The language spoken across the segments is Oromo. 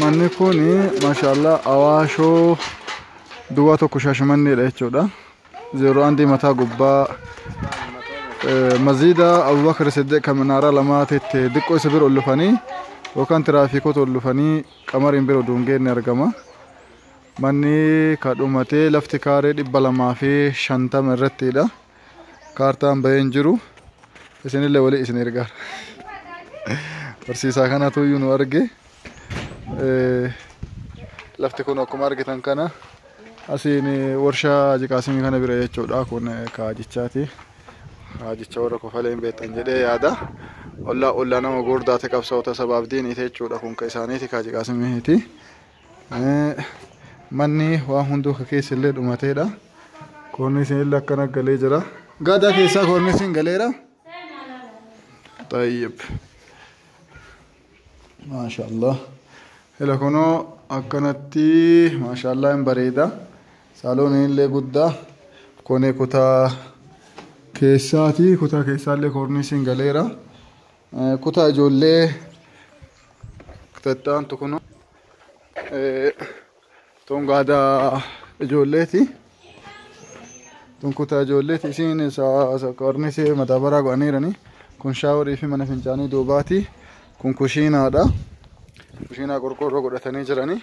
Manni kun maashaallah awaashoo duwwaa tokko shaashamanneedha jechuudha. Zeeroo andii mataa gubbaa eh, maziida Abubakar Siddiq kan minaaraa lamaa tette diqqoo isa bira ol dhufanii yookaan tiraafiikoota ol dhufanii qamariin bira duungeen ni argama. Manni kadhumatee lafti kaaree dhibba lamaa fi shantama irrattiidha. kaartaan bahee hin jiru isinillee walii isin ergaa barsiisaa kanatu iyyuu nu arge lafti kun akkuma argitan kana asiin warshaa jiqaasimii kana bira jechuudha kun kaajichaati kaajicha warra kofalee hin beektan jedhee yaada ollaa ollaa nama gurdaate qabsaa'ota sabaaf diiniite jechuudha kun ka isaaniiti kaajiqaasimiiti Manni waan hunduu ka keessa illee dhumateedha. Koornisiin illee akkana galee jira. Gaadaa keessaa koornisiin galeera. Tayyib. Maashaallah. Ila kunoo akkanatti maashaallah hin bareeda. Saalooniin illee guddaa. Kuni kutaa keessaati. Kutaa keessaa illee koornisiin galeera. Kutaa ijoollee kutattaan tukuno tun gaada ijoolleeti. Tun kutaa ijoolleeti isiin saakkaarnis madaabaraa godhaniirani. Kun shaaworii fi mana fincaanii duubaati. Kun kushiinaadha. Kushiinaa qorqoorroo godhatanii jirani.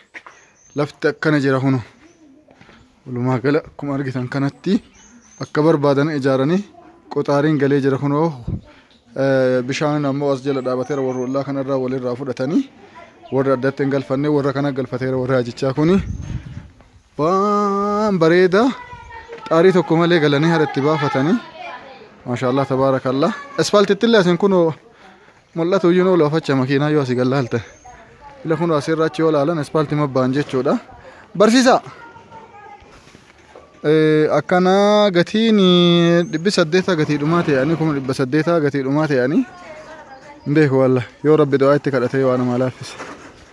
Lafti akkana jira kunu. Walumaa gala akkuma argitan kanatti akka barbaadan ijaaranii qoxaariin galee jira kunoo bishaan ammoo as jala dhaabateera warra ollaa kanarraa walirraa fudhatanii warra addatti hin galfanne warra kana galfateera warra hajichaa kuni waan bareeda xaarii tokko malee galanii haadha itti baafatanii maashaallah tabaarakallah asfaaltittillee asin kunoo Mul'atu iyyuu nuu loofacha makiinaa yoo asii gallaalte. Ila kun asii irraa achi yoo laalan ispaaltii mabbaan jechuudha. Barsiisaa! Akkana gatiin dhibbi saddeetaa gatii dhumaa ta'anii kuma dhibba saddeetaa gatii dhumaa ta'anii hin beeku walla yoo rabbi du'aa itti kadhatee waan namaa laaffise.